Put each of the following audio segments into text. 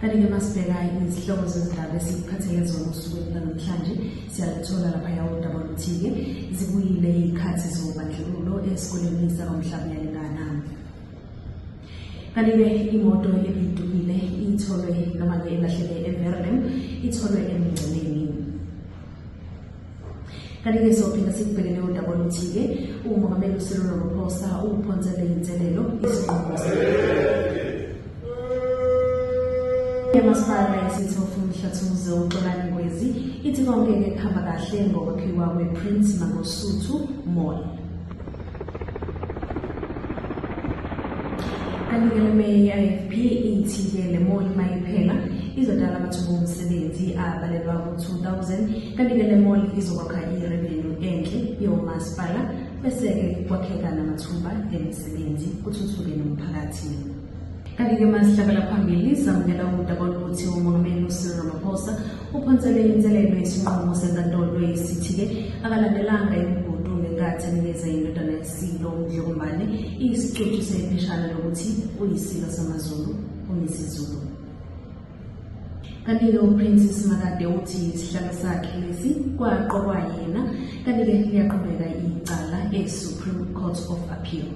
kanti-ke masibheka izihlobo zezindaba esiphathele zona osukwini lanamhlanje siyalithola laphaya udaba oluthi-ke zibuyile iy'khathi zobandlululo esikoleni sakwamhlaba uyalingana kanti-ke imoto ebidukile itholwe noma-ke elahleke everlem itholwe emngceleni kanti-ke sophinda sikubheke leyo ndaba oluthi-ke umongameli ucyril ramaphosa ukuphonsele inselelo isinqumo yamasipala yesithofu mhlathumuze uxolani ngwezi ithi konke-ke kuhamba kahle ngokwakhiwa kwe-prince mangosuthu mall Kanti-ke i-IFP ithi-ke le mall uma iphela izodala amathuba omsebenzi abalelwa ku-2000 kanti-ke le mall izokwakha irevenue enhle yomasipala bese-ke kwakheka namathuba emisebenzi kuthuthuke nomphakathi. Kanti-ke masihlabela phambili samukela udaba oluthi umongameli ucyril ramaphosa uphonsele inselelo yesinqumo senkantolo esithi-ke akalandelanga imigudu ngenkathi enikeza indodana yesilo umdlokombane iyisicucu sepheshana lokuthi uyisilo samazulu umisizulu kanti-ke uprince simakade uthi isihlalo sakhe lesi kwaqokwa yena kanti-ke liyaqhubeka icala e-supreme court of appeal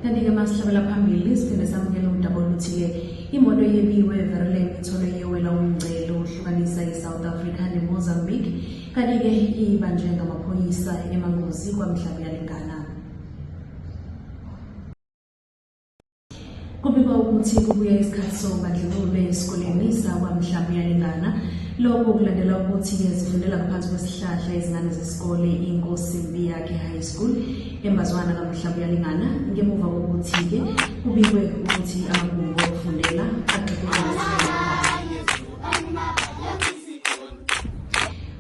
Kanti-ke masihlabela phambili siphinde samukela udaba oluthile imoto yebiwe everland ithole yewela umngcele ohlukanisa i-south africa nemozambique kanti-ke ibanjwe ngamaphoyisa emangozi kwamhlabuyalingana Kubikwa ukuthi kubuye isikhathi sobandlululo esikoleni sakwamhlaba uyalingana lokho kulandela ukuthi zifundela ngaphansi kwesihlahla izingane zesikole inkosi mbi yakhe high school embazwana kamhlaba uyalingana ngemuva kokuthi-ke kubikwe ukuthi amagumbi okufundela agxekwe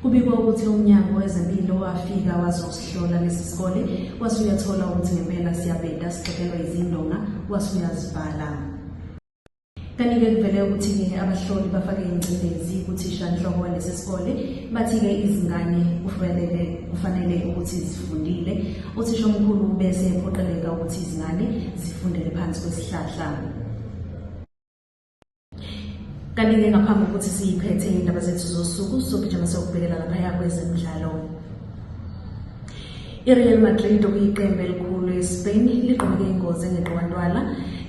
Kubikwa ukuthi umnyango wezempilo wafika wazosihlola lesi sikole wase uyathola ukuthi ngempela siyabheda sixekelwa izindonga wase uyazibhala kanti-ke kuvele ukuthi-ke abahloli bafake ingcindezi kuthishanhloko walesi sikole bathi-ke izingane kufanele kufanele ukuthi zifundile uthisha omkhulu bese ephoqeleka ukuthi izingane zifundele phansi kwesihlahla Kanti-ke ngaphambi kokuthi siyiphethe indaba zethu zosuku sogijima siyokubhekela laphaya kwezemidlalo ireal madrid okuyiqembu elikhulu espain ligqoke ingozi engeqowantwala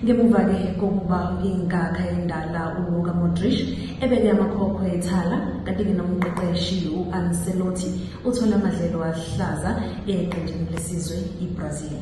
ngemuva-ke kokuba inkakha endala uluka modrish ebeke amakhokhwe ethala kanti-ke nomqeqeshi u-ancelotti uthole amadlelo ahlaza eqenjini lesizwe ibrazil